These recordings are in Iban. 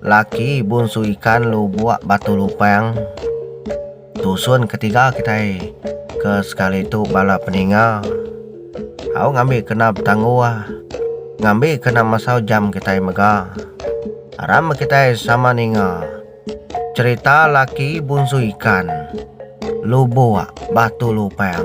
Laki bunsu ikan lubok batu lupang tusun ketiga kitai ke sekali tu bala peninga au ngambi kena betangguh ngambi kena mesau jam kitai mega aram meh kitai sama ninga cherita laki bunsu ikan lubok batu lupang.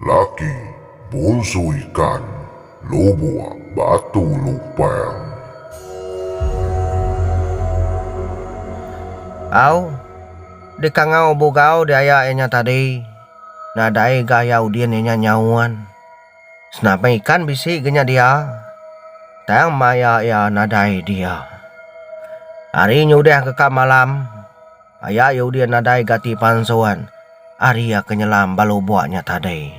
Laki bonsu ikan lubok batu lupang. Au, di kangau bugau diaya iya nya tadi, nadai ga iya udin iya nya nyaun. Senapeng ikan bisi ga nya dia, tang maya iya nadai dia. Hari nyudah ga ka malam. Aya iya udin nadai gati pansuan ari iya ke nyelam bala ubak nya tadi.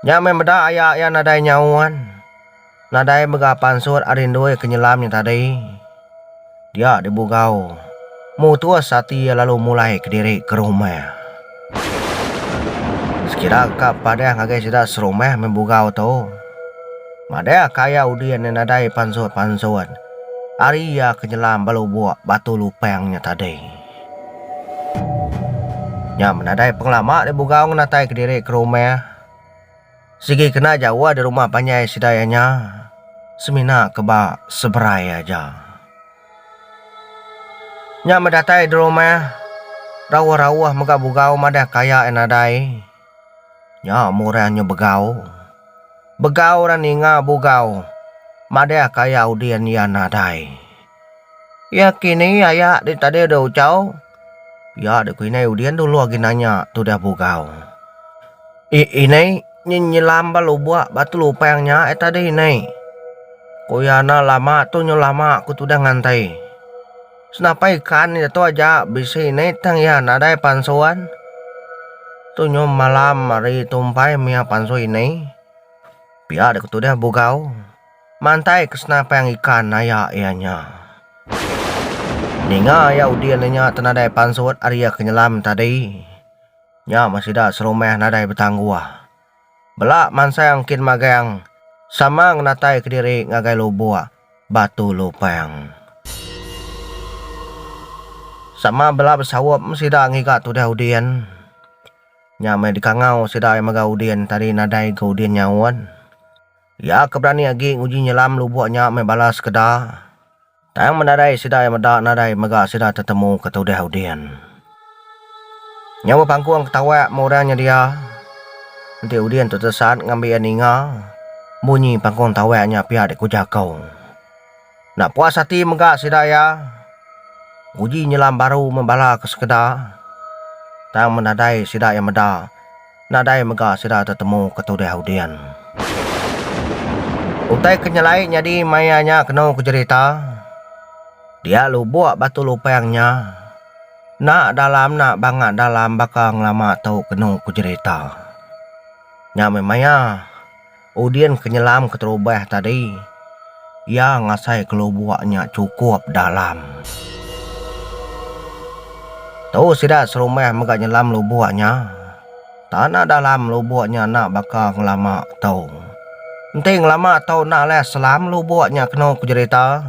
Nya meh meda aya iya nadai nyaun, nadai mega pansut ari endur iya ke nyelam nya tadi. Dia dibugau, mutus ati iya lalu mulai kediri ke rumah. Sekira ka padeh ngagai sida serumah meh bugau tu. Madeh ka iya udin iya nadai pansut-pansut ari iya ke nyelam ba lubok batu lupang nya tadi. Nya men nadai pengelama deh bugau ngenatai kediri ke rumah. Sigi kena jauh deh rumah panjai sida iya nya semina ke ba seberai aja. Nya meh datai Dromah rauh-rauh mega bugau madah ke aya iya nadai. Nya murang nya begau. Begau ra ninga bugau madah ke aya udin iya nadai. Iya kini aya di tadi dau chau. Ya deh ku inai udin dulu agi nanya tudah bugau. I inai nyi nyelam ba lubok ba telupang nya ai tadi inai. Ku iya enda lama tu nyu lama ku tudah ngantai. Senapa ikan iya tu aja bisi inai tang iya nadai pansuan. Tu nyu malam ari tumpai mia pansu inai. Pia deh ku tudah bugau. Mantai ke senapang ikan aya iya nya. Ninga iya udin iya nya tenadai pansut ari iya ke nyelam tadi. Nya meh sida serumah nadai betangguh. Bela mansang kin magang sama ngenatai kediri ngagai lubuk Batu Lupang. Sama bela besaup meh sida ngiga tudah udin. Nya meh dikangau sida mega udin tadi nadai ga udin nyaut. Iya ke berani agi nguji nyelam lubok nya meh bala sekeda, tang menarai sida iya meda nadai mega sida tetemu ke tudah udin. Nyau bepangkung ke tawak meh orang nyedia, enti udin tu tesat ngambi iya ninga, bunyi pangkung tawak nya pia dikuja ko. Enda puas ati mega sida iya nguji nyelam baru meh bala ke sekeda tang men nadai sida iya meda nadai mega sida tetemu ke tudah Udin. Utai ke nyelai nyadi maya nya kenu ke jerita dia lubok Batu Lupang nya enda dalam enda banga dalam baka ngelama tu kenu ke jerita. Nya meh maya. Udin ke nyelam keterubah tadi, iya ngasai kelubuk nya chukup dalam. Tu sida serumah mega nyelam lubuk nya. Tanah dalam lubuk nya enda baka ngelama tu. Enti ngelama tu enda alai selam lubuk nya kenu ku jerita.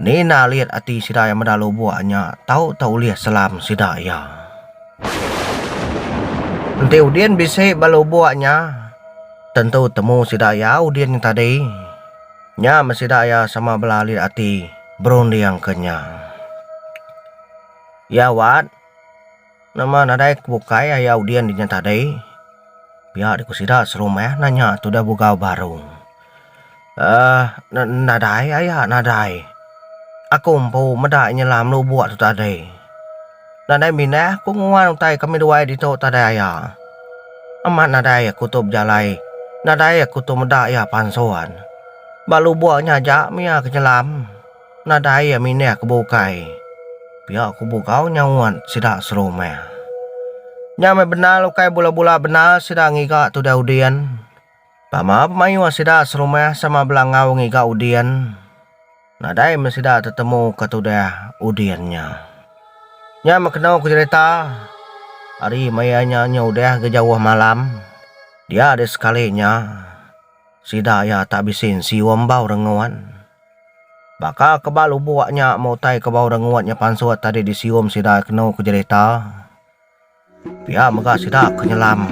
Nina lit ati sida iya meda lubok nya tau tau ulih selam sida iya. Enti udin bisi ba lubok nya tentu temu sida iya udin nya tadi. Nya men sida iya sama bela lit ati berundingka nya. Iya wat. Nama nadai ku bukai aya udin inya tadi pia deh ku sida serumah nah nya tu dah bugau baru um nadai aya nadai aku empu meda inya lah melubuk tu tadi nadai minah ku nguan utai kami duai ditu tadai aya amat nadai aku tu bejalai nadai aku tu meda iya pansun ba lubuk nya aja mih iya ke nyelam. Nadai iya mindah ke bukai. Pia ku Bugau nyaut sida serumah. Nya meh bendar ukai bula-bula bendar sida ngiga tudah udin. Pama pemayuh sida serumah sama bela enggau ngiga udin. Nadai meh sida tetemu ke tudah udin nya. Nya meh kenu ku jerita ari maya nya nya udah ga jauh malam. Dia deh sekali nya sida iya tak bisi sium bau rengut. Baka ke ba lubok nya meh utai ke bau rengut nya pansut tadi disium sida kenu ke jerita. Pia mega sida ke nyelam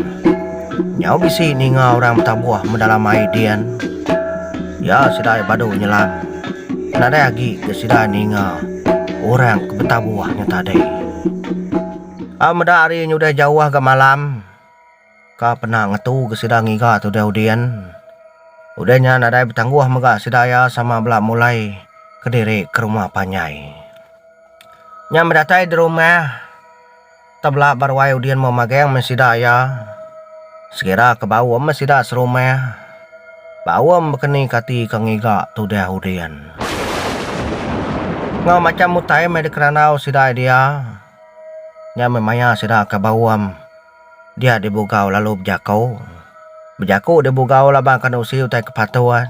nyau bisi ninga orang betabuh me dalam ai din ya sida ia badu nyelam nadai agi ke sida ninga orang ke betabuh nya tadi. A meda hari nyudah jauh ga malam. Ka pernah ngetu ke sida ngiga te udah udin. Udah nya nadai betangguh mega sida iya sama bela mulai kediri ke rumah panjai. Nya meh datai dirumah tebela ba ruai udin meh magang meh sida iya. Sekira ke bau meh sida serumah. Bau meh bekeni ke ati ke ngiga te udah udin. Enggau macham utai meh dikerandau sida iya dia. Nya meh maya sida ke bau. Dia deh bugau lalu bejako. Bejako deh bugau laban kan usi utai ke patuan.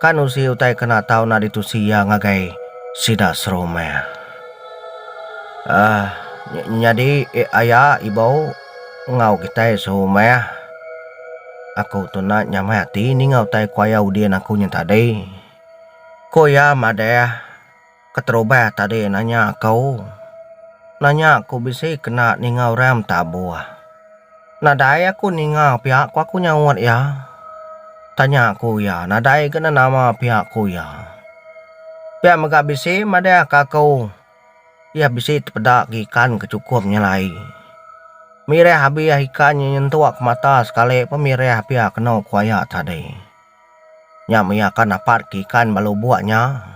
Kan usi utai ke nak tau nak ditusi iya ngagai sida serumah. Aah nyadi aya ibou enggau kitai serumah aku tu nak nyamai ati ninga utai ku aya udin aku nya tadi. Ku iya madah. Keterubai tadi nanya aku. Nanya aku bisi kena ninga orang betabuh. Nadai aku ninga pia ku aku nyaut iya. Tanya ku iya nadai ga ne nama pia ku iya. Pia mega bisi madahka aku iya bisi tepeda ke ikan ke chukup nyelai. Mirih abih ikan nyentuk ke mata sekali pun mirih pia kenu ku iya tadi. Nya maya ka napat ke ikan bala ubok nya.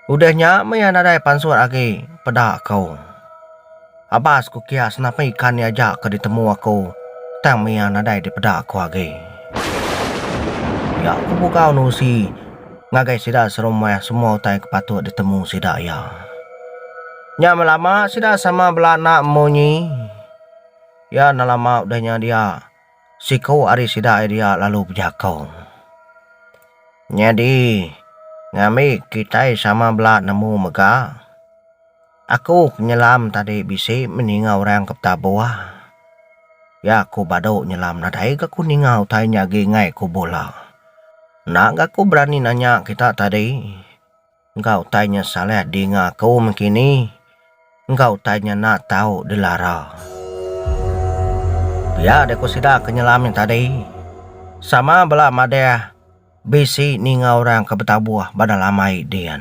Udah nya maya nadai pansut agi peda aku. Abas ku kias napi ikan nya aja ke ditemu aku tang maya nadai dipeda aku agi. Nya ku bugau nusi ngagai sida serumah semua utai ke patut ditemu sida iya. Nya melama sida sama bela anak munyi. Iya nelama udah nya dia. Siku ari sida Elia lalu bejako, Nyadi, ngambi kitai sama bela nemu mega? Aku ke nyelam tadi bisi meh ninga orang ke betabuh. Ya aku badu nyelam nadai ga ku ninga utai nya agi enggai ku bula. Enda ga ku berani nanya kita tadi. Enggau utai nya Saleh dinga aku mengkini, enggau utai nya enda tau dilara. Pia deh ku sida ke nyelam nya tadi. Sama bela madah bisi ninga orang ke betabuh badah lamai din.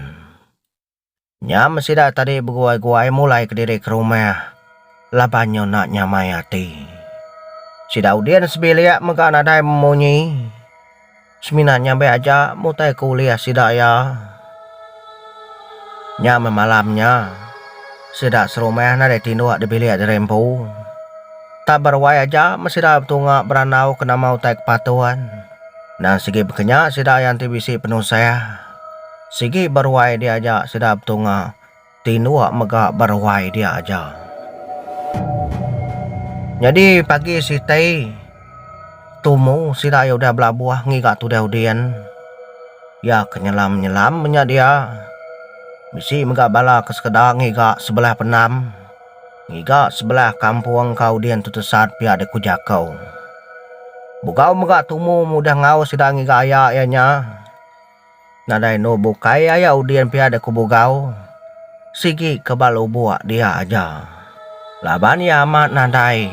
Nyam sida tadi beguai-guai mulai kediri ke rumah laban nyu enda nyamai ati. Sida udin sebilik mega nadai memunyi. Semina nyambai aja mutai ke ulih sida iya. Nya meh malam nya, sida serumah nadai tinduk di bilik diri empu. Tak beruai aja meh sida betunga berandau ke nama utai ke patut. Endang sigi bekenya sida iya enti bisi penusah. Sigi beruai diaja sida betunga. Tinua mega beruai dia aja. Nyadi pagi sitai tumu sida iya udah belabuh ngiga tudai udin iya ke nyelam nyelam nya dia bisi mega bala ke sekeda ngiga sebelah pendam ngiga sebelah kampung ka udin tu tesat pia dek ku jako. Bugau mega tumu mudah ngaus sida ngiga aya iya nya. Nadai enu bukai aya udin pia da ku Bugau, sigi ke ba lubok dia aja. Laban iya amat nadai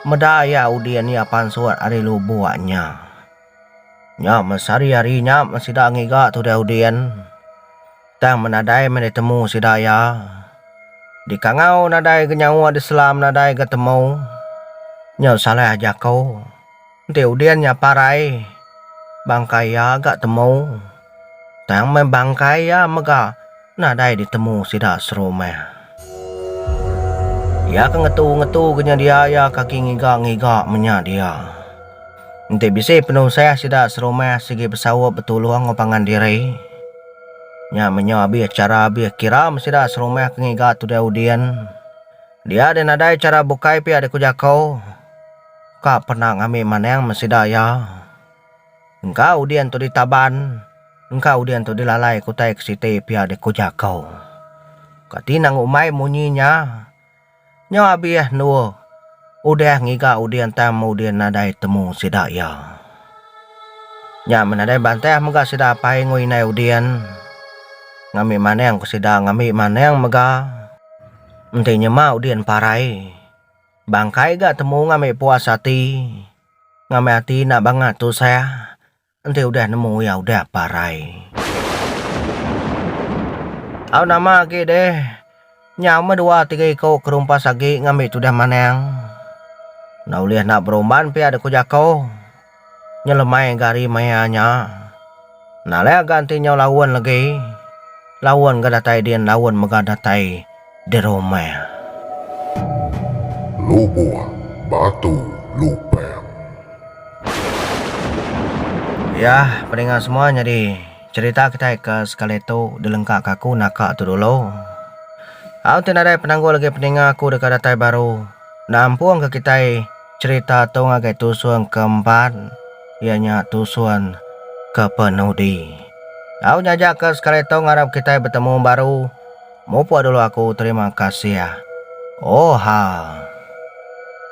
meda iya udin iya pansut ari lubok nya. Nya meh sehari-hari nya men sida ngiga tudai udin, tang men nadai meh ditemu sida iya. Dikangau nadai ga nyawa diselam nadai ga temu. Nya salah jaku. Enti udin nya parai, bangkai iya ga temu. Tang meh bangkai iya mega nadai ditemu sida serumah. Iya ke ngetu-ngetu ke nyedia iya kaki ngiga-ngiga menya dia. Enti bisi penusah sida serumah sigi besaup betulung enggau pangan diri. Nya menya abih chara abih kira meh sida serumah ke ngiga tudai udin. Dia deh nadai chara bukai pia deh ku jaku. Ka pernah ngambi maneng me sida iya. Engka udin tu ditaban, engka udin tu dilalai ke utai ke siti pia deh ku jaku. Kati nang umbai munyi nya. Nyau abih endur udah ngiga udin tang meh udin nadai temu sida iya. Nya men nadai bantah mega sida apai enggau indai udin ngambi maneng ke sida ngambi maneng mega enti nyema udin parai. Bangkai ga temu ngambi puas ati ngambi ati enda banga tusah enti udah nemu iya udah parai. Au nama agi deh nyau meh dua tiga iko ke rumpas agi ngambi tudah manang enda ulih nak berumban pia deh ku jako. nyelemai ga ari maya nya enda leh ga enti nyau laun legi laun ga datai din laun mega datai dirumah. Lubuh batu lupang. Yah peninga semua nyadi cerita kitai ke sekali tu dilengka ka aku naka tu dulu. Au ti nadai penanggul legi peninga aku deka datai baru nampung ka kitai Cherita tu ngagai tusun ke empat iya nya tusun ke penudi. Au nyaja ke sekali tu ngarap kitai betemu baru mupuk dulu aku terima kasih. Oha.